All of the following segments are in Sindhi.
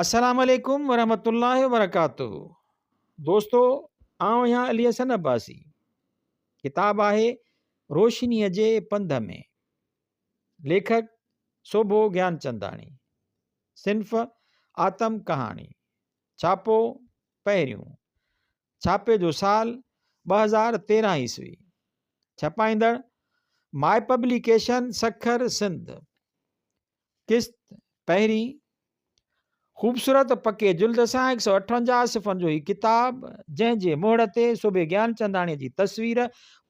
السلام عليڪم ورحمة الله وبرڪاته دوستو آئون آهيان علي حسن عباسي ڪتاب آهي روشنيء جي پنڌ ۾ ليکڪ سوڀو گيانچنداڻي صنف آتم ڪهاڻي ڇاپو پهريون ڇاپي جو سال ٻه هزار تيرهن عيسوي ڇپائيندڙ مائي پبليڪيشن سکر سنڌ قسط پهرين خوبصورت پڪي جلد سان هڪ سؤ اٺونجاهه صفحن جو هي ڪتاب جنهن جي مهڙ تي صوڀي گيانچنداڻيء جي تصوير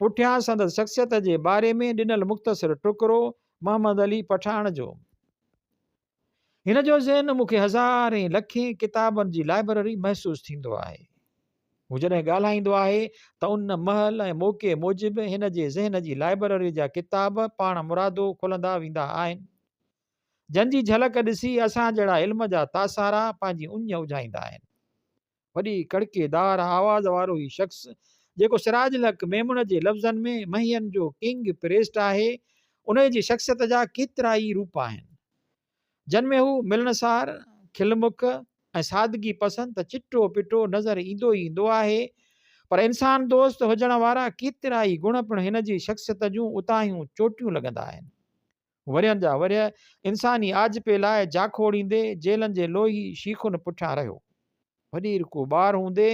پٺيان سندس شخصيت جي باري ۾ ڏنل مختصر ٽڪرو محمد علي پٺاڻ جو هن جو ذهن مون کي هزارين لکين ڪتابن جي لائبرري محسوس ٿيندو آهي. هو جڏهن ڳالهائيندو آهي ته ان مهل ۽ موقعي موجب هن جي ذهن جي لائبرري جا ڪتاب پاڻ مرادو کلندا ويندا آهن، جن جي جهلڪ ڏسي اسان جهڙا علم جا تاسارا پنهنجي اڃ اجهائيندا آهن. وڏي ڪڙڪي دار آواز وارو هي شخص، جيڪو سراج الحق ميمڻ جي لفظن ۾ مهين جو ڪنگ پريسٽ آهي، انهيء جي شخصيت جا ڪيترائي روپ آهن. جن ۾ هو ملنسار، کلمک ۽ سادگي پسند ته چٽو پٽو نظر ايندو ئي ايندو آهي، پر انسان دوست هجڻ وارا ڪيترائي گڻ پڻ هن جي شخصيت جون اتاهيون چوٽيون لڳندا آهن. ورهين جا ورهيه انساني آجپي لاء جاکوڙيندي جيلن جي لوهي شيخن پٺيان رهيو. وڏير ڪو ٻار هوندي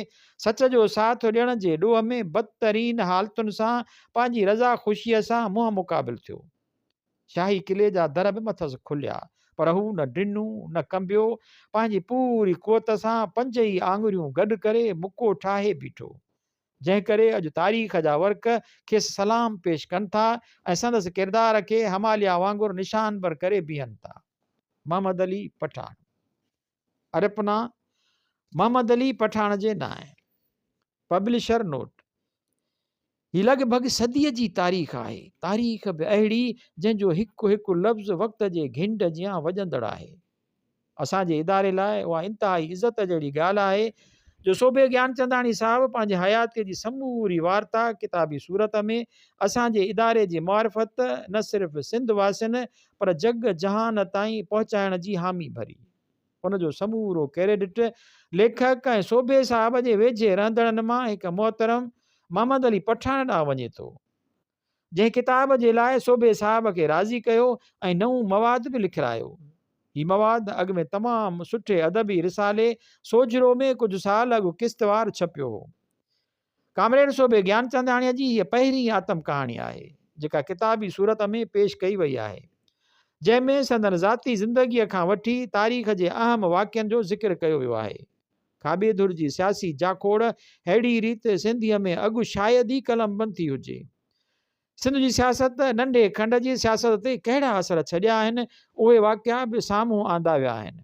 سچ جو ساٿ ڏيڻ جي ڏوهه ۾ بدترين حالتن سان پنهنجي رضا خوشيء سان منهن مقابل ٿيو. شاهي قلعي جا در به مٿس کليا، پر هو نه ڊنو، نه ڪنبيو، پنهنجي پوري قوت سان پنج ئي آڱريون گڏ ڪري مڪو ٺاهي بيٺو، جنهن ڪري اڄ تاريخ جا ورق کيس سلام پيش ڪن ٿا ۽ سندس ڪردار کي هماليا وانگر نشانبر ڪري بيهن ٿا. محمد علي پٺاڻ ارپنا محمد علي پٺاڻ جي نانء. پبلشر نوٽ، هي لڳ ڀڳ صديء جي تاريخ آهي، تاريخ به اهڙي جنهن جو هڪ هڪ لفظ وقت جي گهنڊ جيان وڄندڙ آهي. اسان جي اداري لاء اها انتهائي عزت جهڙي ڳالهه آهي جو صوڀي گيانچنداڻي صاحب پنهنجي حياتيء جي سموري وارتا ڪتابي صورت ۾ اسان جي اداري جي معرفت نه صرف سنڌ واسين پر جڳ جهان تائين پهچائڻ جي حامي ڀري. ان جو سمورو ڪريڊٽ ليکڪ ۽ سوڀي صاحب جي ويجهي رهندڙن مان هڪ محترم محمد علي پٺاڻ ڏانهن وڃي ٿو، جنهن ڪتاب جي لاء سوڀي صاحب کي راضي ڪيو ۽ نئون مواد به لکرايو. هي مواد اڳ ۾ تمام سٺي ادبي رسالي سوجهرو ۾ ڪجهه سال اڳ قسطوار ڇپيو هو. ڪامريڊ صوڀي گيانچنداڻيء جي هيء پهرين آتم ڪهاڻي آهي، جيڪا ڪتابي صورت ۾ پيش ڪئي وئي آهي، جنهن ۾ سندن ذاتي زندگيء کان وٺي تاريخ جي اهم واقعن جو ذڪر ڪيو ويو آهي. کاٻي ڌر جي سياسي جاکوڙ ههڙي ريت سنڌيء ۾ اڳ شايد ئي قلمبند ٿي هجي. سنڌ جي سياست، ننڍي کنڊ جي سياست تي ڪهڙا اثر ڇڏيا آهن، اهي واقعا به سامهون آندا ويا آهن.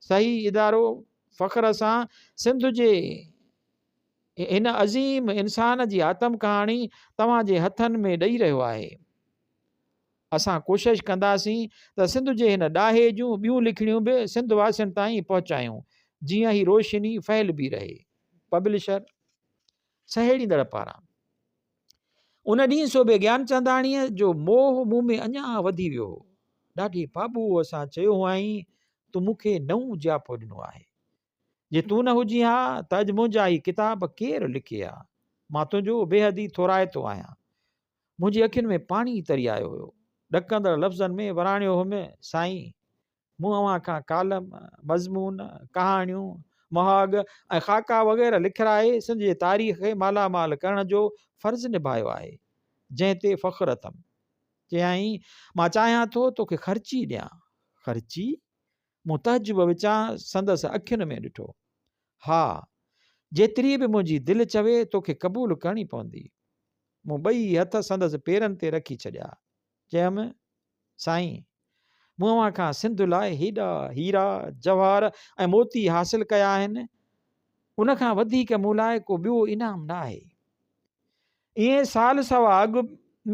صحيح ادارو فخر سان سنڌ جي هن عظيم انسان جي آتم ڪهاڻي توهان جي هٿن ۾ ڏئي رهيو آهي اسان ڪوشش ڪنداسين ته سنڌ جي هن ڏاهي جون ٻيون لکڻيون به سنڌ واسين تائين پهچايون جيئن هي روشني ڦهلبي رهي پبلشر سهيڙيندڙ پاران ان ڏينهن صوڀي گيانچنداڻيء جو موهه مون ۾ اڃا وڌي ويو هو. ڏاڍي پاٻوهه سان چيو هئائين، تون مون کي نئون جياپو ڏنو آهي. جي تون نه هجين ها ته اڄ منهنجا هي ڪتاب ڪير لکي ها. مان تنهنجو بيحد ئي ٿورائتو آهيان. منهنجي اکين ۾ پاڻي تري آيو هيو. ڏڪندڙ لفظن ۾ وراڻيو هيم، سائين! مون اوهان کان ڪالم، مضمون، ڪهاڻيون، مهاڳ ۽ خاڪا وغيره لکرائي سنڌ جي تاريخ کي مالا مال ڪرڻ جو فرض نڀايو آهي، جنهن تي فخر اٿم. چيائين، مان چاهيان ٿو توکي خرچي ڏيان. خرچي؟ مون تعجب وچان سندس اکين ۾ ڏٺو. ها، جيتري به منهنجي دل چوي توکي قبول ڪرڻي پوندي. مون ٻئي هٿ سندس پيرن تي رکي ڇڏيا. چيم، سائين! مون اوهان کان سنڌ لاء هيڏا هيرا، جواهر ۽ موتي حاصل ڪيا آهن، ان کان وڌيڪ مون لاء ڪو ٻيو انعام نه آهي. ايئن سال سوا اڳ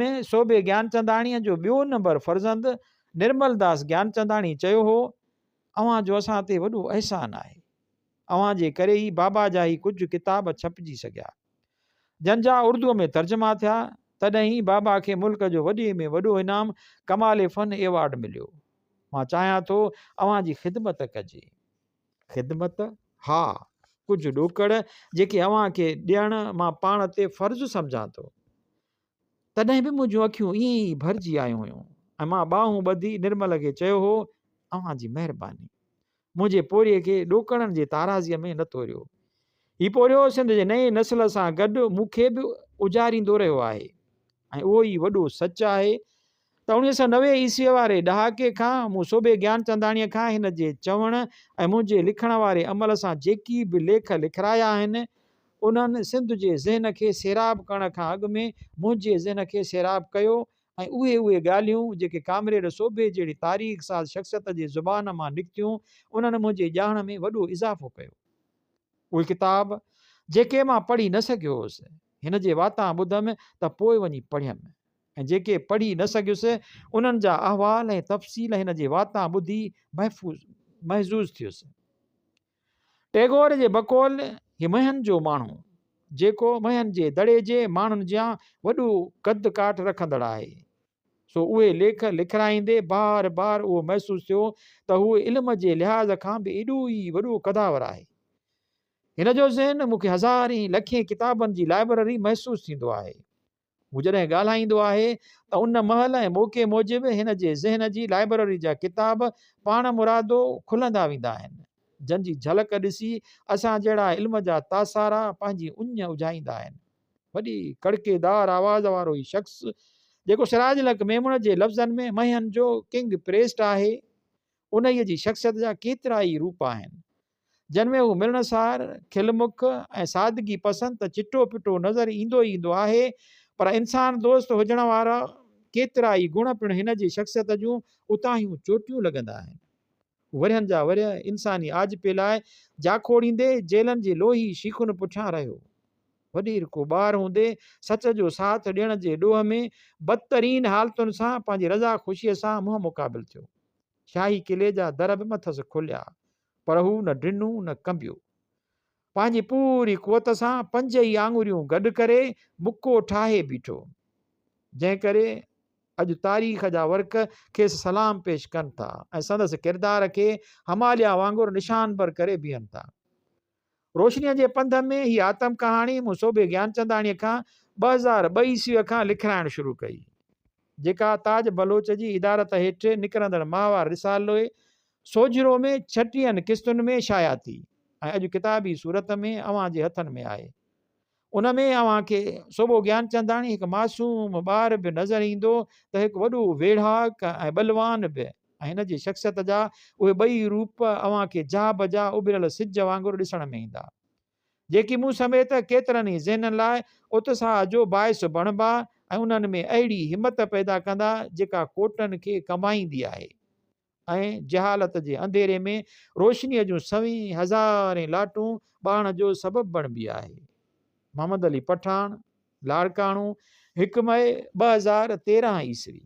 ۾ صوڀي گيانچنداڻيء جو ٻيو نمبر فرزند نرملداس گيانچنداڻي چيو هو، اوهان جو اسان تي وڏو احسان آهي. اوهان جي ڪري ئي بابا جا هي ڪجهه ڪتاب ڇپجي سگهيا. جن جا اردوء ۾ ترجما ٿيا، تڏهن ئي بابا کي ملڪ جو وڏي ۾ وڏو انعام ڪمال فن ايوارڊ مليو. مان چاهيان ٿو اوهان جي خدمت ڪجي. خدمت؟ ها، ڪجهه ڏوڪڙ جيڪي اوهان کي ڏيڻ مان پاڻ تي فرض سمجهان ٿو. تڏهن به منهنجون اکيون ائين ئي ڀرجي آيون هيون ۽ مان ٻانهون ٻڌي نرمل کي چيو هو اوهان جي مهرباني منهنجي پورهيي کي ڏوڪڙن جي تارازيء ۾ نه توريو هي پورهيو سنڌ جي نئين نسل سان گڏ مون کي به اجاريندو رهيو آهي ۽ اهو ئي وڏو سچ آهي ته اوڻيهه سؤ نوي عيسويء واري ڏهاڪي کان مون صوڀي گيانچنداڻيء کان هن جي چوڻ ۽ منهنجي لکڻ واري عمل سان جيڪي به ليک لکرايا آهن، انهن سنڌ جي ذهن کي سيراب ڪرڻ کان اڳ ۾ منهنجي ذهن کي سيراب ڪيو ۽ اهي اهي ڳالهيون جيڪي ڪامريڊ صوڀي جهڙي تاريخ ساز شخصيت جي زبان مان نڪتيون، انهن منهنجي ڄاڻ ۾ وڏو اضافو ڪيو. اهي ڪتاب جيڪي مان پڙهي نه سگهيو هوس، هن جي واتان ٻڌم ته پوء وڃي پڙهيم. ۽ جيڪي پڙهي نه سگهيس، انهن جا احوال ۽ تفصيل هن جي واتان ٻڌي محفوظ محظوظ ٿيس. ٽئگور جي بقول هي مهن جو ماڻهو، جيڪو مهن جي دڙي جي ماڻهن جيان وڏو قد ڪاٺ رکندڙ آهي، سو اهي ليک لکرائيندي بار بار اهو محسوس ٿيو ته هو علم جي لحاظ کان به ايڏو ئي وڏو قداور آهي. هن جو ذهن مون کي هزارين لکين ڪتابن جي لائبرري محسوس ٿيندو آهي. هو جڏهن ڳالهائيندو آهي ته ان مهل ۽ موقعي موجب هن جي ذهن جي لائبرري جا ڪتاب پاڻ مرادو کلندا ويندا آهن، جن جي جهلڪ ڏسي اسان جهڙا علم جا تاسارا پنهنجي اڃ اجهائيندا آهن. وڏي ڪڙڪيدار آواز وارو هي شخص، جيڪو سراج الحق ميمڻ جي لفظن ۾ مهين جو ڪنگ پريسٽ آهي، انهيء جي شخصيت جا ڪيترائي روپ آهن، جن ۾ هو ملڻسار، کل مک ۽ سادگي پسند ته چٽو پٽو نظر ايندو ئي ايندو آهي، پر انسان دوست هجڻ وارا ڪيترا ئي گڻ پڻ هن جي شخصيت جون اتاهيون چوٽيون لڳندا آهن. هو ورهين جا ورهيه انساني آجپي لاء جاکوڙيندي جيلن جي لوهي شيخن پٺيان رهيو. وڏيرڪو ٻار هوندي سچ جو ساٿ ڏيڻ جي ڏوهه ۾ بدترين حالتن سان پنهنجي رضا خوشيء سان منهن مقابل ٿيو. شاهي قلعي جا در به مٿس کليا. پر هو نه ڊنو نه ڪنبيو. پنهنجي پوري قوت سان پنج ئي آڱريون گڏ ڪري مڪو ٺاهي بيٺو. جنهن ڪري اڄ تاريخ جا ورق کيس سلام پيش ڪن ٿا ۽ سندس ڪردار کي هماليا وانگر نشانبر ڪري بيهن ٿا. روشنيء جي پنڌ ۾ هي آتم ڪهاڻي مون سوڀي گيانچنداڻيء کان ٻه هزار ٻه عيسويء کان لکرائڻ شروع ڪئي، جيڪا تاج بلوچ جي ادارت هيٺ نڪرندڙ ماهوار رسالوي سوجهرو ۾ ڇٽيهن قسطن ۾ شايع ٿي ۽ اڄ ڪتابي صورت ۾ اوهان جي هٿن ۾ آهي. ان ۾ اوهان کي صوڀو گيانچنداڻي هڪ معصوم ٻار به نظر ايندو ته هڪ وڏو ويڙهاڪ ۽ ٻلوان به ۽ هن جي شخصيت جا اهي ٻئي روپ اوهان کي جا بجا اڀريل سج وانگر ڏسڻ ۾ ايندا جيڪي مون سميت ڪيترن ئي ذهنن لاء اتساهه جو باعث بڻبا ۽ انهن ۾ اهڙي همت پيدا ڪندا جيڪا ڪوٽن کي ڪنبائيندي آهي ۽ جهالت جي انڌيري ۾ روشنيء جون سوين هزارين لاٽون ٻاڙڻ جو سبب بڻبي آهي. محمد علي پٺاڻ، لاڙڪاڻو، هڪ مئي ٻه هزار تيرهن عيسوي.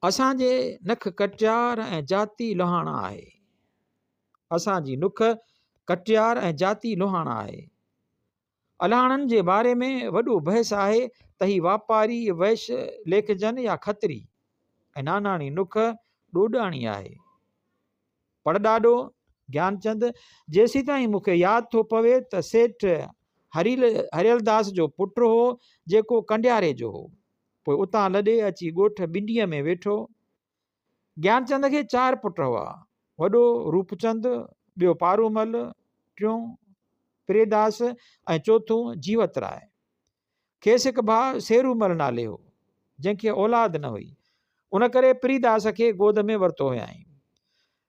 اسان جي نک ڪٽيار ۽ جاتي لوهاڻا آهي. اسان جي نک ڪٽيار ۽ جاتي لوهاڻا آهي. الاڻن جي باري ۾ وڏو بحث آهي ته هي واپاري، وئش، ليکجن يا کتري ۽ ناناڻي نک ڏوڏاڻي آهي. پڙڏاڏو گيانچند، جيسيتائين مون کي ياد ٿو پوي ته سيٺ هريلداس جو پٽ هو، جيڪو ڪنڊياري جو هو. پوء اتان لڏي اچي ڳوٺ بنڊيء ۾ ويٺو. گيانچند کي چار پٽ هئا، وڏو روپچند، ٻيو پارومل، ٽيون پريداس ۽ چوٿون جيوت راء. کيس هڪ ڀاء سيرومل نالي هو، جنهن کي اولاد نه هئي، ان ڪري پريداس کي گود ۾ ورتو هيائين.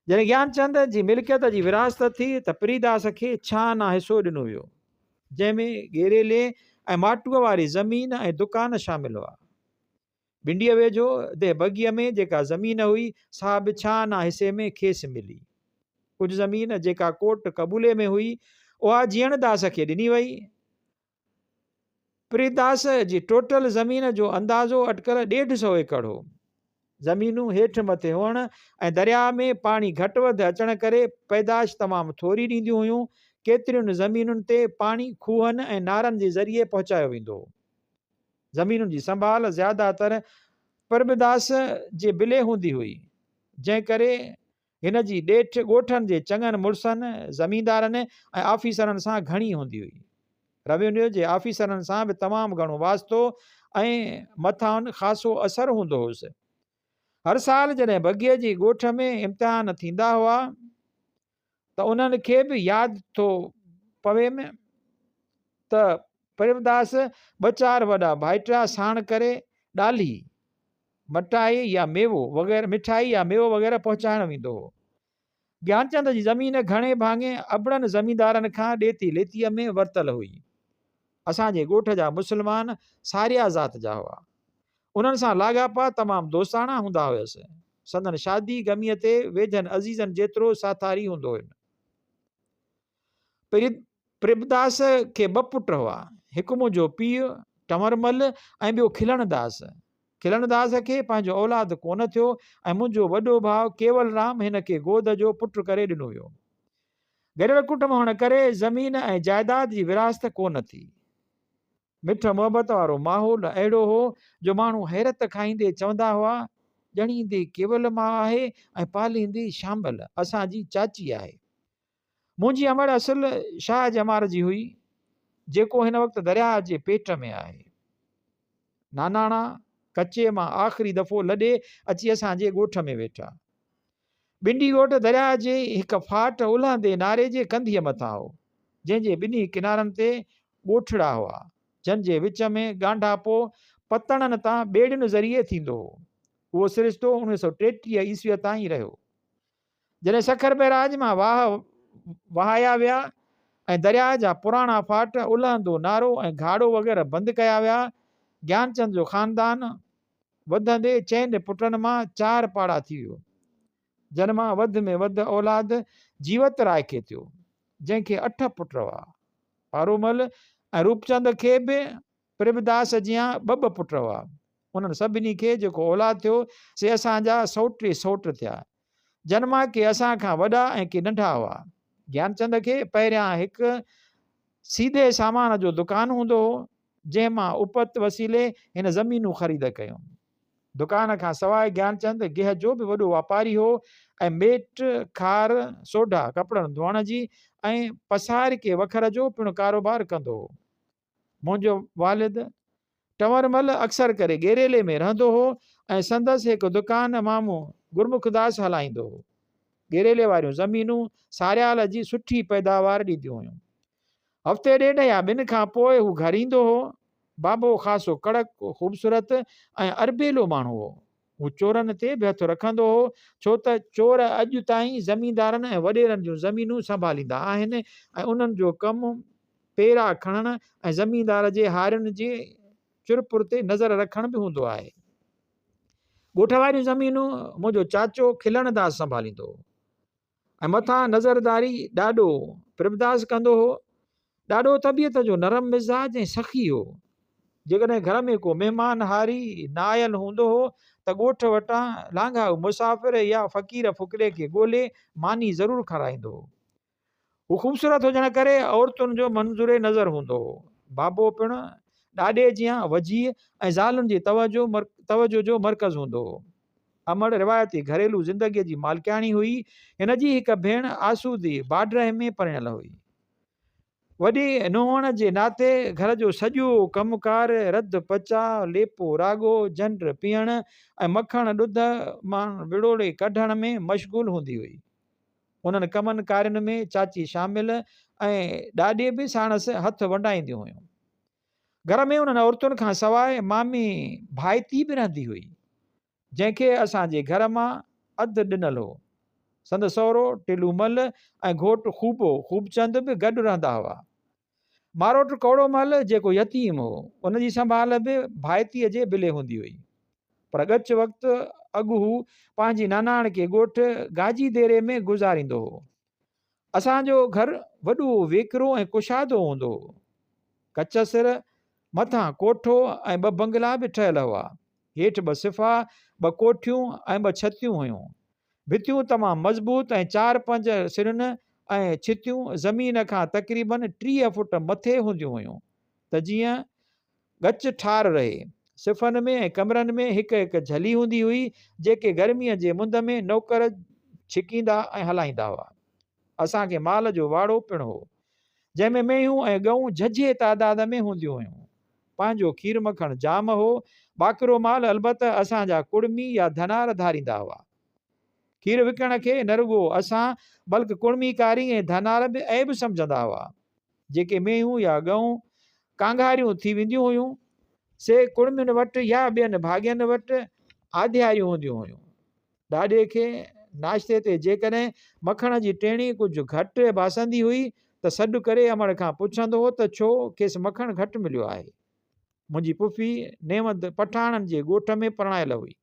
جڏهن گيانچند جي ملڪيت جي ورهاست ٿي ته پريداس کي ڇهانا حصو ڏنو ويو، جنهن ۾ ڳيريلي ۽ ماٽوء واري زمين ۽ دڪان شامل هئا. بنڊيء ويجهو دهه بگيء ۾ جيڪا زمين هئي، سا به ڇهانا حصي ۾ کيس ملي. ڪجهه زمين جيڪا ڪوٽ قبولي ۾ هئي، اها جيئڻداس کي ڏني وئي. پريداس جي ٽوٽل زمين جو اندازو اٽڪل ڏيڍ سئو ايڪڙ هو. زمينون هيٺ مٿي هئڻ ۽ درياهه ۾ پاڻي گهٽ وڌ اچڻ ڪري پيدائش تمام ٿوري ڏينديون هيون. ڪيترين زمينن تي پاڻي کوهن ۽ نارن جي ذريعي پهچايو ويندو هو. زمينن جي سنڀال زياده تر پريمداس جي بلي هوندي هئي، جنهن ڪري هن جي ڏيٺ ڳوٺن جي چڱن مڙسن، زميندارن ۽ آفيسرن سان گهڻي هوندي هئي. روينيو جي آفيسرن سان به تمام گهڻو واسطو ۽ مٿان خاصو اثر هوندو هوس. هر سال جڏهن بگيء جي ڳوٺ ۾ امتحان ٿيندا هئا، ته انهن کي به ياد ٿو پويم ته پريمداس ٻه چار وڏا ڀائٽا ساڻ ڪري ڏالهي، مٺائي يا ميوو وغيره مٺائي يا ميوو وغيره پهچائڻ ويندو هو. گيانچند جي زمين گهڻي ڀاڱي ابڙن زميندارن کان ڏيتي ليتيء ۾ ورتل هئي. اسان جي ڳوٺ جا مسلمان ساريا ذات جا هئا. انهن سان لاڳاپا تمام دوستاڻا هوندا هيس. سندن شادي غميء تي ويجهن عزيزن جيترو ساٿاري هوندو هين. پريبداس کي ٻه پٽ هئا. هڪ منهنجو پيء ٽنور مل ۽ ٻيو کلڻ داس. کلڻ داس کي پنهنجو اولاد ڪو نه ٿيو ۽ منهنجو وڏو ڀاء ڪيول رام هن کي گود جو پٽ ڪري ڏنو ويو. گڏيل ڪٽنب هئڻ ڪري زمين ۽ جائداد جي ورهاست ڪو نه ٿي. مٺ محبت وارو ماحول اهڙو هو جو ماڻهو حيرت کائيندي چوندا هئا، ڄڻيندي ڪيول ماء آهي ۽ پاليندي شامل اسان جي چاچي آهي. منهنجي امڙ اصل شاهه جمار جي هئي، جيڪو هن وقت درياهه جي پيٽ ۾ آهي. ناناڻا ڪچي مان آخري دفعو لڏي اچي اسان جي ڳوٺ ۾ ويٺا. ٻنڊي ڳوٺ درياهه جي هڪ ڦاٽ الهندي ناري جي ڪنڌيء مٿان هو، جنهن جي ٻنهي ڪنارن تي ڳوٺڙا هئا، جن جي وچ ۾ ڳانڍاپو پتڻن تان ٻيڙين ذريعي ٿيندو هو. اهو سرشتو اڻويهه سؤ ٽيٽيهه عيسويء تائين رهيو، جڏهن سکر بئراج مان واهه وهايا ويا ۽ درياهه جا پراڻا ڦاٽ الهندو نارو ۽ گهاڙو وغيره بند ڪيا ويا. گيانچند جو خاندان وڌندي چئن پٽن مان چار پاڙا ٿي ويو، جن مان وڌ ۾ وڌ اولاد جيوت راء کي ٿيو، جنهن کي اٺ پٽ هئا. پارومل ۽ روپچند کي به پرڀداس جيان ٻه ٻه پٽ هئا. انهن سڀني کي جيڪو اولاد ٿيو، سي اسان جا سئوٽ ئي سئوٽ ٿيا. جن مان ڪي اسان کان وڏا ۽ ڪي ننڍا هئا. گيانچند کي پهريان هڪ سيدي سامان جو دڪان هوندو هو، جنهن مان اپت وسيلي هن زمينون خريد ڪيون. دڪان کان سواء گيانچند گيهه جو به وڏو واپاري هو ۽ ميٽ، کار، سوڍا، ڪپڙن ڌوئڻ جي ۽ پسارڪي وکر جو پڻ ڪاروبار ڪندو هو. منهنجو والد ٽنورمل اڪثر ڪري گيريلي ۾ رهندو هو ۽ سندس هڪ دڪان مامو گرمکداس هلائيندو هو. گيريلي واريون زمينون ساريال جي سٺي پيداوار ڏينديون هيون. هفتي ڏيڍ يا ٻن کان پوء هو گهر ايندو هو. بابو خاصو ڪڙڪ، خوبصورت ۽ اربيلو ماڻهو هو. هو چورن تي به هٿ رکندو هو، ڇو ته چور اڄ تائين زميندارن ۽ وڏيرن جون زمينون سنڀاليندا آهن ۽ انهن جو ڪم پيرا کڻڻ ۽ زميندار جي هارين جي چرپر تي نظر رکڻ به هوندو آهي. ڳوٺ واريون زمينون منهنجو چاچو کلڻ داس سنڀاليندو هو. ۽ مٿان نظرداري ڏاڏو پريمداس ڪندو هو. ڏاڏو طبيعت جو نرم مزاج ۽ سخي هو. جيڪڏهن گهر ۾ ڪو مهمان هاري نه آيل هوندو هو ته ڳوٺ وٽان لانگهائو مسافر يا فقير فقيري کي ڳولي ماني ضرور کارائيندو هو. هو خوبصورت هجڻ ڪري عورتن جو منظور نظر هوندو هو. بابو پڻ ڏاڏي جيان وجيهه ۽ زالن جي توجهه جو مرڪز هوندو هو. امڙ روايتي گهريلو زندگيء جي مالڪياڻي هئي. هن جي هڪ ڀيڻ آسودي باڊرهه ۾ پرڻيل هئي. وڏي نونهن هئڻ جي ناتي گهر جو سڄو ڪم ڪار، رڌ پچاء، ليپو راڳو، جنڊ پيئڻ ۽ مکڻ ڏڌ مان وڙوڙي ڪڍڻ ۾ مشغول هوندي هئي. انهن ڪمن ڪارين ۾ چاچي شامل ۽ ڏاڏي به ساڻس هٿ ونڊائينديون هيون. گهر ۾ انهن عورتن کان سواء مامي ڀائتي به رهندي هئي، جنهن کي اسان جي گهر مان اڌ ڏنل هو. سندس سهرو ٽلومل ۽ گهوٽ خوبو خوبچند به گڏ رهندا هئا. ماروٽ ڪوڙو مل جيڪو يتيم هو، ان جي سنڀال به ڀائتيء جي بلي هوندي هئي. پر ڳچ وقت اڳ هو پنهنجي ناناڻڪي ڳوٺ گاجي ديري ۾ گذاريندو هو. اسان جو گهر وڏو، ويڪرو ۽ ڪشادو هوندو هو. ڪچ سر، مٿان ڪوٺو ۽ ٻه بنگلا به ٺهيل هئا. هيٺ ٻه صفحا، ٻه ڪوٺيون ۽ ٻه ڇتيون هيون. ڀتيون تمام مضبوط ۽ چار پنج سرن ۽ ڇتيون زمين کان تقريباً ٽيهه فوٽ مٿي هونديون هيون ته جيئن ڳچ ٺار رهي. صفحن ۾ ۽ ڪمرن ۾ هڪ هڪ جھلي هوندي هئي، جيڪي گرميء جي مند ۾ نوڪر ڇڪيندا ۽ هلائيندا هئا. اسان کي مال جو واڙو پڻ هو، جنهن ۾ مينهون ۽ ڳئون جهجهي تعداد ۾ هونديون هيون. پنهنجو کير مکڻ جام هو، باقرو مال البته اسان جا ڪڙمي يا ڌنار ڌاريندا هئا. کير وڪڻڻ کي نه رڳو اسان بلڪ ڪڙمي ڪاري ۽ ڌنار به عيب سمجهندا هئا. جيڪي مينهون يا ڳئون ڪانگهاريون ٿي وينديون هيون، سي ڪڙمين وٽ يا ٻين ڀاڳين وٽ آڌياريون هونديون هيون. ڏاڏي کي ناشتي تي جيڪڏهن مکڻ جي ٽيڻي ڪجهه گهٽ ڀاسندي هئي ته سڏ ڪري امڙ کان پڇندو هو ته ڇو کيس مکڻ گهٽ مليو آهي. منهنجي پڦي نيوند پٺاڻن جي ڳوٺ ۾ پرڻايل هئي.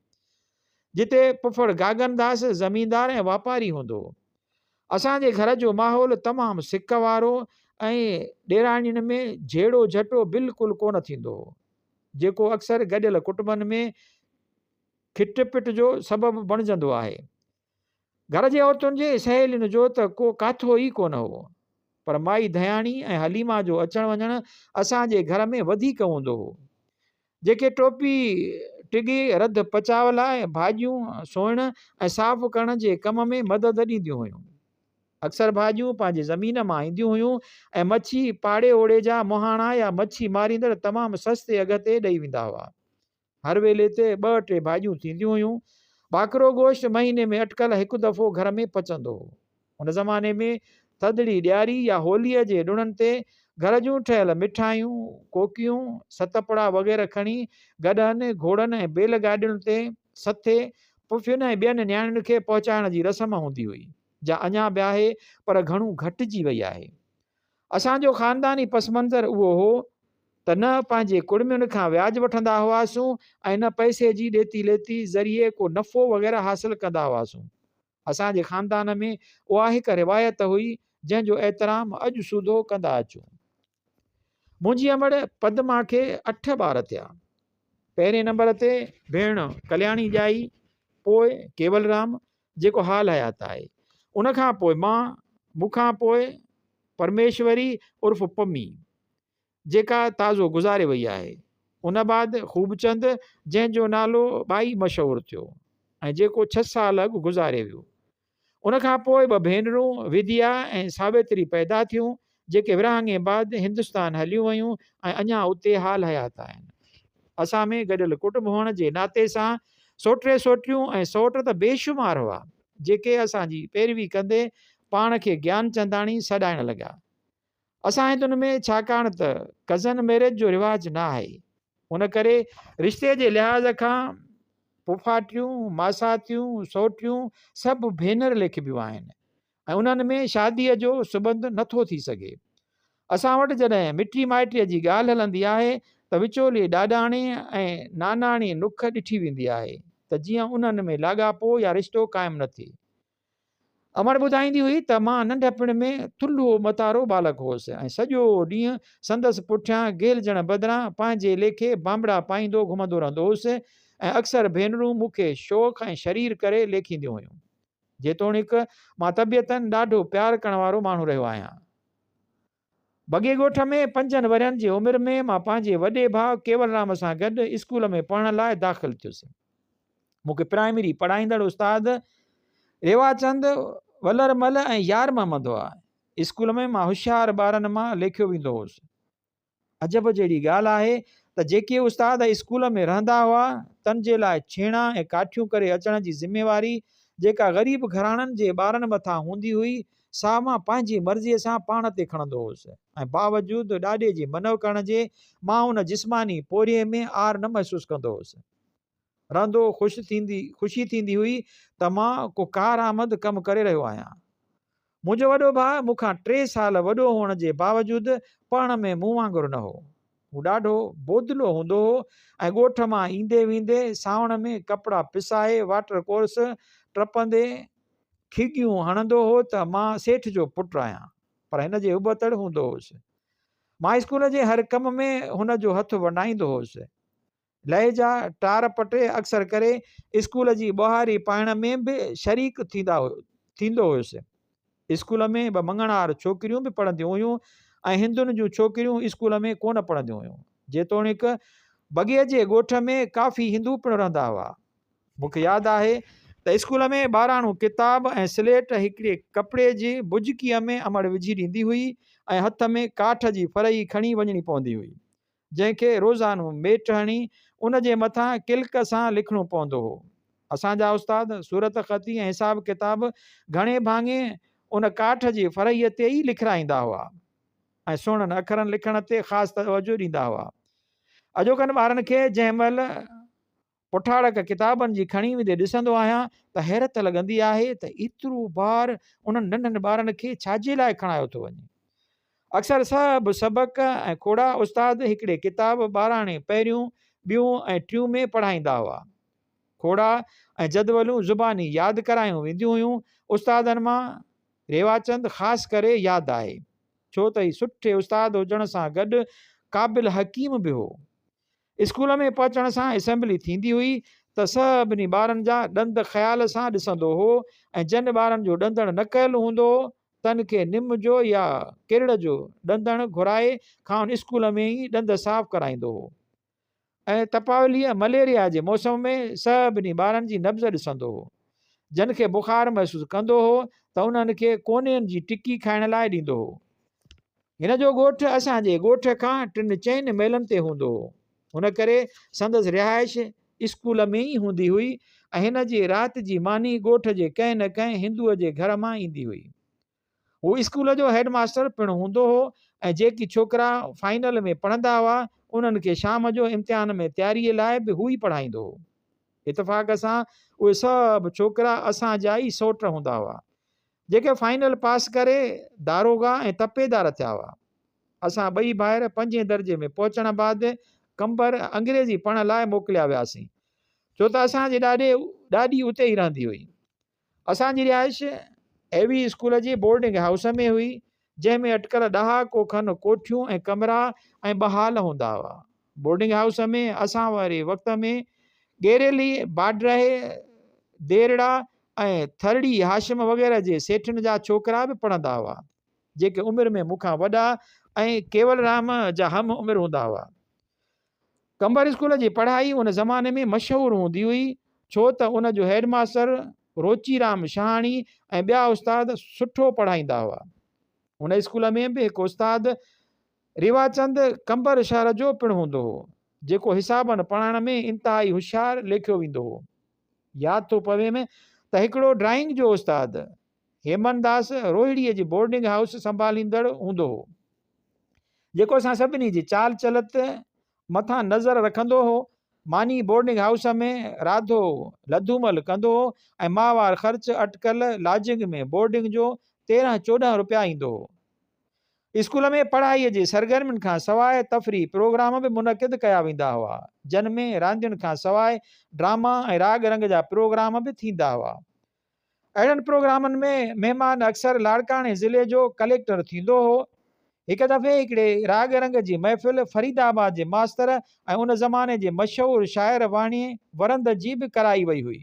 جتي پڦڙ گاگن داس زميندار ۽ واپاري هوندو هو. اسان جي گهر جو ماحول تمام سڪ وارو ۽ ڏيراڻين ۾ جهيڙو جهٽو بلڪل ڪونه ٿيندو هو. جيڪو اڪثر گڏيل ڪٽنبن ۾ کٽ پٽ جو سبب بڻجندو آهي. گهر جي عورتن جي سهيلين جو ته ڪو ڪاٿو ئي ڪونه هو. پر مائي ڌياڻي ۽ حليمه جو اچڻ وڃڻ اسان جي گهر ۾ وڌيڪ هوندو هو. جيڪي ٽوپي ٽڳي، رڌ پچاء لاء، ڀاڄيون سوئڻ ۽ صاف ڪرڻ جي ڪم ۾ مدد ڏينديون هيون. اڪثر ڀاڄيون پنهنجي زمين مان اينديون هيون ۽ مڇي پاڙي اوڙي جا مهاڻا يا مڇي ماريندڙ تمام سستي اگهه تي ڏئي ويندا هئا. هر ويلي تي ٻه ٽي ڀاڄيون ٿينديون هيون. ٻاڪرو گوشت مهيني ۾ اٽڪل هڪ دفعو گهر ۾ پچندو هو. ان زماني ۾ ٿڌڙي، ڏياري يا هوليء جي ڏڻن تي گهر جون ٺهيل مٺايون، ڪوڪيون، ستپڙا وغيره کڻي گڏهن، گهوڙن ۽ بيل گاڏين تي سٿي پڦين ۽ ٻين نياڻين کي پهچائڻ جي رسم هوندي هئي، جا اڃا به آهي پر گهڻو گهٽجي وئي آهي. اسان جو خانداني پس منظر اهو هو ته نه پنهنجي ڪڙمين کان وياج وٺندا هئاسون ۽ نه پئسي جي ڏيتي ليتي ذريعي ڪو نفعو وغيره حاصل ڪندا هئاسون. اسان جي خاندان ۾ اها هڪ روايت هئي جنهن جو احترام اڄ سوڌو ڪندا اچون. منهنجي امڙ پدما کي اٺ ٻار ٿيا. پهرين نمبر تي ڀيڻ ڪلياڻي ڄائي، پوء ڪيولرام، جيڪو حال حيات آهي. ان کان پوء مان، مون کان پوء پرميشوري عرف پمي، جيڪا تازو گذاري وئي آهي. ان بعد خوبچند جنهن جو نالو ٻائي مشهور ٿيو ۽ جيڪو ڇهه سال اڳ گذاري ويو. ان کان پوء ٻه ڀينرون وديا ۽ ساويتري پيدا ٿيون جيڪي ورهاڱي بعد هندستان هليون ويون ۽ اڃا اتي حال حيات آهن. اسان ۾ گڏيل ڪٽنب هئڻ جي ناتي سان سوٽري سوٽريون ۽ سوٽ ته بيشمار هئا، جيڪي اسان جي پيروي ڪندي پاڻ کي گيان چنداڻي سڏائڻ لڳا. اسان هندن ۾ ڇاڪاڻ ته ڪزن ميرج جو رواج نه آهي، ان ڪري رشتي جي لحاظ کان ڦوڦاٽيون، ماساتيون، سوٽريون سڀ ڀينر ليکبيون آهن. ۽ انهن ۾ شاديء جو سٻنڌ نه ٿو ٿي سگهي. اسان وٽ جڏهن مٽي مائٽيء جي ڳالهه هلندي آهي ته وچولي ڏاڏاڻي ۽ ناناڻي نک ڏٺي ويندي آهي ته جيئن انهن ۾ لاڳاپو يا رشتو قائم نه ٿئي. امڙ ٻڌائيندي هئي ته مان ننڍپڻ ۾ ٿلهو متارو ٻالڪ هوس ۽ سڄو ڏينهن سندس پٺيان گهلجڻ بدران پنهنجي ليکي بانبڙا پائيندو گهمندو رهندو هوس ۽ اڪثر ڀينرون مون کي شوخ ۽ شرير ڪري ليکينديون هيون. جيتوڻيڪ مان طبيعتاً ڏاڍو پيار ڪرڻ وارو ماڻهو رهيو آهيان. بگي ڳوٺ ۾ پنجن ورهين جي عمر ۾ مان پنهنجي وڏي ڀاء ڪيولرام سان گڏ اسڪول ۾ پڙهڻ لاء داخل ٿيس. مون کي پرائمري پڙهائيندڙ استاد ريواچند، ولرمل ۽ يارمحمد هئا. اسڪول ۾ مان هوشيار ٻارن مان ليکيو ويندو هوس. عجب جهڙي ڳالهه آهي ته جيڪي استاد اسڪول ۾ رهندا هئا تن جي لاء ڇيڻا ۽ ڪاٺيون ڪري اچڻ جي ذميواري جيڪا غريب گهراڻن جي ٻارن مٿان هوندي هئي سا مان پنهنجي مرضي سان پاڻ تي کڻندو هوس ۽ باوجود ڏاڏي جي منع ڪرڻ جي مان ان جسماني پورهيي ۾ عار نه محسوس ڪندو هوس. رهندو خوش ٿيندي خوشي ٿيندي هئي ته مان ڪو ڪارآمد ڪم ڪري رهيو آهيان. منهنجو وڏو ڀاء مون کان ٽي سال وڏو هئڻ جي باوجود پڙهڻ ۾ مون وانگر نه هو. هو ڏاڍو بودلو هوندو هو ۽ ڳوٺ مان ايندي ويندي سانوڻ ۾ ڪپڙا پسائي واٽر ڪورس ٽپندي کيڳيون هڻندو هو ته مان سيٺ جو پٽ آهيان پر هن جي ابتڙ هوندو هوس. مان اسڪول جي هر ڪم ۾ هن جو هٿ ونڊائيندو هوس. لهجا، ٽار پٽي اڪثر ڪري اسڪول جي ٻهاري پائڻ ۾ به شريڪ ٿيندا ٿيندو هيس. اسڪول ۾ ٻه مڱڻهار ڇوڪريون به پڙهنديون هيون ۽ هندن جون ڇوڪريون اسڪول ۾ ڪونه پڙهنديون هيون. جيتوڻيڪ بگيء جي ڳوٺ ۾ ڪافي هندو پڻ رهندا هئا. مون کي ياد آهي ته اسڪول ۾ ٻاراڻو ڪتاب ۽ سليٽ هڪڙي ڪپڙي جي بجڪيء ۾ امڙ وجهي ڏيندي هئي ۽ هٿ ۾ ڪاٺ جي ڦرهي کڻي وڃڻي پوندي هئي. جنهن کي روزانو ميٽ هڻي ان جي مٿان ڪلڪ سان لکڻو پوندو هو. اسان جا استاد صورت خطي ۽ حساب ڪتاب گهڻي ڀاڱي ان ڪاٺ جي ڦرهيء تي ئي لکرائيندا هئا ۽ سهڻن اکرن لکڻ تي خاص توجه ڏيندا هئا. اڄوڪن ٻارن کي جنهن مهل پٺاڙڪ ڪتابن جي کڻي ويندي ڏسندو آهيان ته حيرت لڳندي آهي ته ايترو بار انهن ننڍن ٻارن کي ڇاجي لاء کڻايو ٿو وڃي. اڪثر سڀ سبق ۽ کوڙا استاد هڪڙي ڪتاب ٻاراڻي پهريون، ٻيون ۽ ٽيون ۾ پڙهائيندا هئا. کوڙا ۽ جدولون زباني ياد ڪرايون وينديون هيون. استادن مان ريواچند خاص ڪري ياد آهي. ڇو ته هي سٺي استاد هجڻ سان گڏ قابل حڪيم به هو. اسڪول ۾ پهچڻ سان اسيمبلي ٿيندي هئي ته سڀني ٻارن جا ڏند خيال سان ڏسندو هو ۽ جن ٻارن جو ڏندڻ نه ڪيل هوندو هو تن کي نم جو يا ڪرڙ جو ڏندڻ گهرائي کانئن اسڪول ۾ ئي ڏند صاف ڪرائيندو هو ۽ تپاوليء، مليريا، جي موسم ۾ سڀني ٻارن جي نبض ڏسندو هو. جن کي بخار محسوس ڪندو هو ته انهن کي ڪونين جي ٽڪي کائڻ لاء ڏيندو هو. هن جو ڳوٺ اسان جي ڳوٺ کان ٽن چئن ميلن تي هوندو هو. ان ڪري سندس رهائش اسڪول ۾ ئي هوندي هئي ۽ هن جي رات جي ماني ڳوٺ جي ڪنهن نه ڪنهن هندوء جي گهر مان ايندي هئي. هو اسڪول جو هيڊ ماستر پڻ هوندو هو ۽ جيڪي ڇوڪرا فائنل ۾ پڙهندا هئا، انهن کي شام جو امتحان ۾ تياريء لاء به هو ئي پڙهائيندو هو. اتفاق سان اهي سڀ ڇوڪرا اسان جا ئي سئوٽ هوندا هئا. جيڪي فائنل پاس ڪري داروغا ۽ تپيدار ٿيا هئا. اسان ٻئي ڀائر پنجين درجي ۾ پهچڻ بعد قمبر انگريزي پڙهڻ لاء موڪليا وياسين، ڇو ته اسان جي ڏاڏي ڏاڏي اتي ئي رهندي هئي. اسان جي رهائش اي وي اسڪول جي بورڊنگ هائوس ۾ هئي، جنهن ۾ اٽڪل ڏهاڪو کن ڪوٺيون ۽ ڪمرا ۽ ٻه هال هوندا هئا. بورڊنگ هائوس ۾ اسان واري وقت ۾ ڳيريلي، باڊرهي، ديرڙا ۽ ٿرڙي هاشم وغيره جي سيٺن جا ڇوڪرا به پڙهندا هئا، جيڪي عمر ۾ مون کان وڏا ۽ ڪيولرام جا هم عمر هوندا هئا. قمبر اسڪول جي پڙهائي ان زماني ۾ مشهور هوندي هئي، ڇو ته ان جو هيڊ ماستر روچي رام شهاڻي ۽ ٻيا استاد سٺو پڙهائيندا هئا. ان اسڪول ۾ به هڪ استاد رواچند قمبر شهر جو پڻ هوندو هو، جيڪو حسابن پڙهائڻ ۾ انتهائي هوشيار ليکيو ويندو هو. ياد ٿو پويم ته هڪڙو ڊرائنگ جو استاد هيمن داس روهڙيء جي بورڊنگ هائوس سنڀاليندڙ هوندو هو. جيڪو اسان سڀني جي چال چلت مٿان نظر رکندو هو. ماني بورڊنگ هائوس ۾ راڌو لڌومل ڪندو هو ۽ ماهوار خرچ اٽڪل لاجنگ ۾ بورڊنگ جو تيرهن چوڏهن روپيا ايندو هو. اسڪول ۾ پڙهائيء جي سرگرمين کان سواء تفريح پروگرام به منعقد ڪيا ويندا هئا، جن ۾ راندين کان سواء ڊراما ۽ راڳ رنگ جا پروگرام به ٿيندا هئا. اهڙن پروگرامن ۾ مهمان اڪثر لاڙڪاڻي ضلعي جو ڪليڪٽر ٿيندو هو. هڪ دفعي هڪڙي راڳ رنگ جي محفل فريد آباد جي ماستر ۽ ان زماني جي مشهور شاعر واڻيي ورند جي به ڪرائي وئي هئي.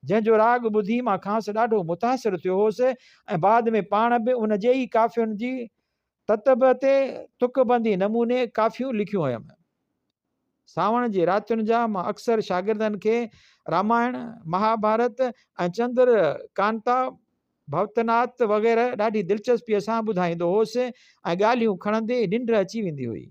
جنهن جو راڳ ٻڌي مان کانئس ڏاڍو متاثر ٿيو هوس ۽ بعد ۾ پاڻ به ان جي ئي ڪافين جي تتب تي تڪ بندي نموني ڪافيون لکيون هيم. سانوڻ جي راتين جا مان اڪثر شاگردن کي رامائڻ، مهاڀارت ۽ چندر ڪانتا، ڀوتنات وغيره ڏاڍي دلچسپيء سان ٻڌائيندو هوس ۽ ڳالهيون کڻندي ننڊ اچي ويندي هئي.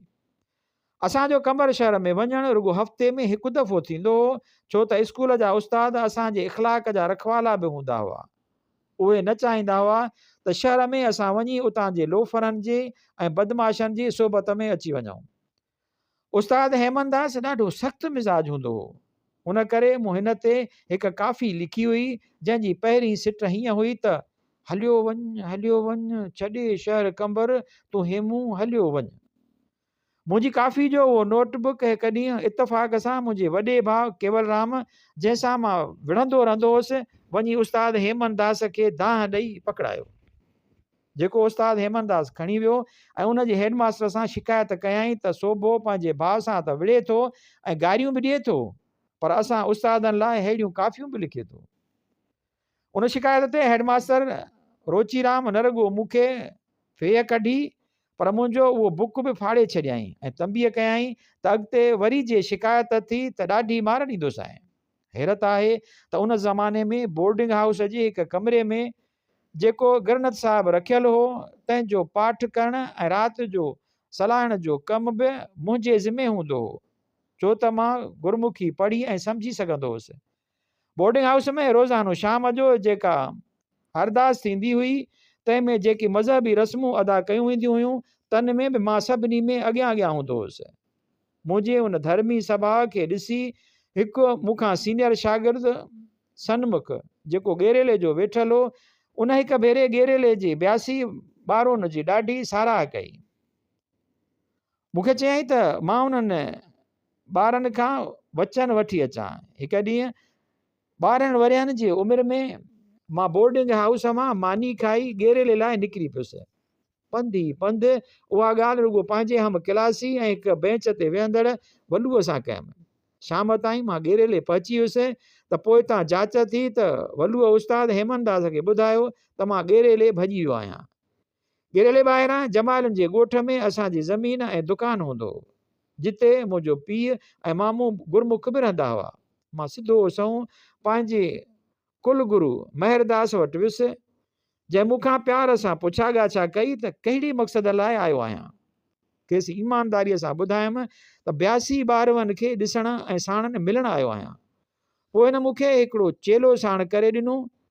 اسان جو قمبر شهر ۾ وڃڻ رڳو هفتي ۾ هڪ دفعو ٿيندو هو، ڇو ته اسڪول جا استاد اسان جي اخلاق جا رکوالا به هوندا هئا. اهي نه چاهيندا هئا ته شهر ۾ اسان وڃي اتان جي لوفرن جي ۽ بدمعاشن جي صحبت ۾ اچي وڃون. استاد هيمن داس ڏاڍو سخت مزاج هوندو هو. ان ڪري مون هن تي هڪ ڪافي لکي هئي، جنهن جي پهرين سٽ هيئن هئي ته. هليو وڃ، هليو وڃ، ڇڏي شهر قمبر، تون هيمون، هليو وڃ. منهنجي ڪافي جو اهو نوٽ بڪ هڪ ڏينهن اتفاق سان منهنجي وڏي ڀاء ڪيولرام جنهن سان مان وڙهندو رهندو هوس وڃي استاد هيمن داس کي دانهن ڏئي پڪڙايو جيڪو استاد هيمن داس کڻي ويو ۽ ان جي هيڊ ماستر سان شڪايت ڪيائين ته سوڀو پنهنجي ڀاء سان ته وڙهي ٿو ۽ گاريون به ڏئي ٿو پر اسان استادن لاء ههڙيون ڪافيون به لکي ٿو. ان شڪايت تي هيڊ ماستر روچي رام نه رڳو مون کي ڦيهه ڪڍي پر منهنجو اهو بڪ به ڦاڙي ڇڏيائين ۽ تنبيه ڪيائين ته اڳتي وري جي شڪايت ٿي ته ڏاڍي مار ڏيندوسانء. حيرت آهي ته ان زماني ۾ بورڊنگ هائوس جي هڪ ڪمري ۾ جيڪو گرنٿ صاحب رکيل هو تنهن جو پاٺ ڪرڻ ۽ رات جو صلاحڻ جو ڪم به منهنجي ذمي هوندو هو ڇو ته مان گرمکي پڙهي ۽ سمجهي سگهندو هوس بورڊنگ هائوس ۾ روزانو شام جو جيڪا ارداس ٿيندي هئي، تنهن ۾ جيڪي مذهبي رسمون ادا ڪيون وينديون هيون، تن ۾ به مان سڀني ۾ اڳيان اڳيان هوندو هوس. منهنجي ان ڌرمي سڀاء کي ڏسي هڪ مون کان سينيئر شاگرد سنمک، جيڪو ڳيريلي جو ويٺل هو، ان هڪ ڀيري ڳيريلي جي بياسي ٻارون جي ڏاڍي ساراهه ڪئي. مون کي چيائين ته مان انهن ٻارن کان وچن وٺي اچان هڪ ڏينهن ٻارهن ورهين جي عمر ۾ مان بورڊنگ هائوس مان ماني کائي ڳيريلي لاء نڪري پيس پنڌ ئي پنڌ اها ڳالهه رڳو پنهنجي هم ڪلاسي ۽ هڪ بينچ تي ويهندڙ ولوء سان ڪيم شام تائين مان ڳيريلي پهچي ويس ته پوء تان جاچ ٿي ته ولوء استاد هيمنداس کي ٻڌايو ته مان ڳيريلي ڀڄي ويو آهيان ڳڙهيلي ٻاهران جمالين جي ڳوٺ ۾ اسان جي زمين ۽ دڪان هوندو هو، جتي منهنجو پيء ۽ مامو گرمک به رهندا هئا. مان سڌو سنئون پنهنجي ڪل گرو مهرداس وٽ ويس، جنهن مون کان پيار سان پڇا ڳاڇا ڪئي ته ڪهڙي مقصد لاء آيو آهيان؟ کيس ايمانداريء سان ٻڌايم ته بياسي ٻارون کي ڏسڻ ۽ ساڻن ملڻ آيو آهيان. پوء هن مون کي هڪڙو چيلو ساڻ ڪري ڏنو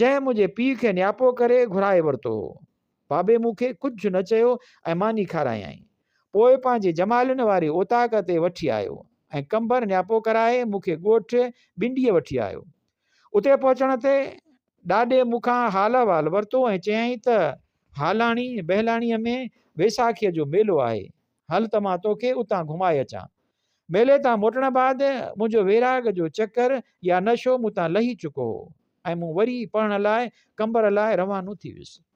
جنهن منهنجي پيء کي نياپو ڪري گهرائي ورتو هو. بابي مون کي ڪجهه نه چيو ۽ ماني کارايائين. پوء پنهنجي جمالين واري اوطاق تي وٺي آيو ۽ ڪنڀر نياپو ڪرائي مون کي ڳوٺ بنڊيء وٺي آيو. اتي پهچڻ تي ڏاڏي مون کان حال احوال ورتو ۽ چيائين ته هالاڻي، بهلاڻيء ۾ ويساکيء جو ميلو آهي، هل ته مان توکي اتان گهمائي اچان. ميلي تان موٽڻ بعد منهنجو ويراڳ جو چڪر يا نشو مون تان لهي چڪو هو ۽ مون وري پڙهڻ لاء قمبر لاء روانو ٿي ويس.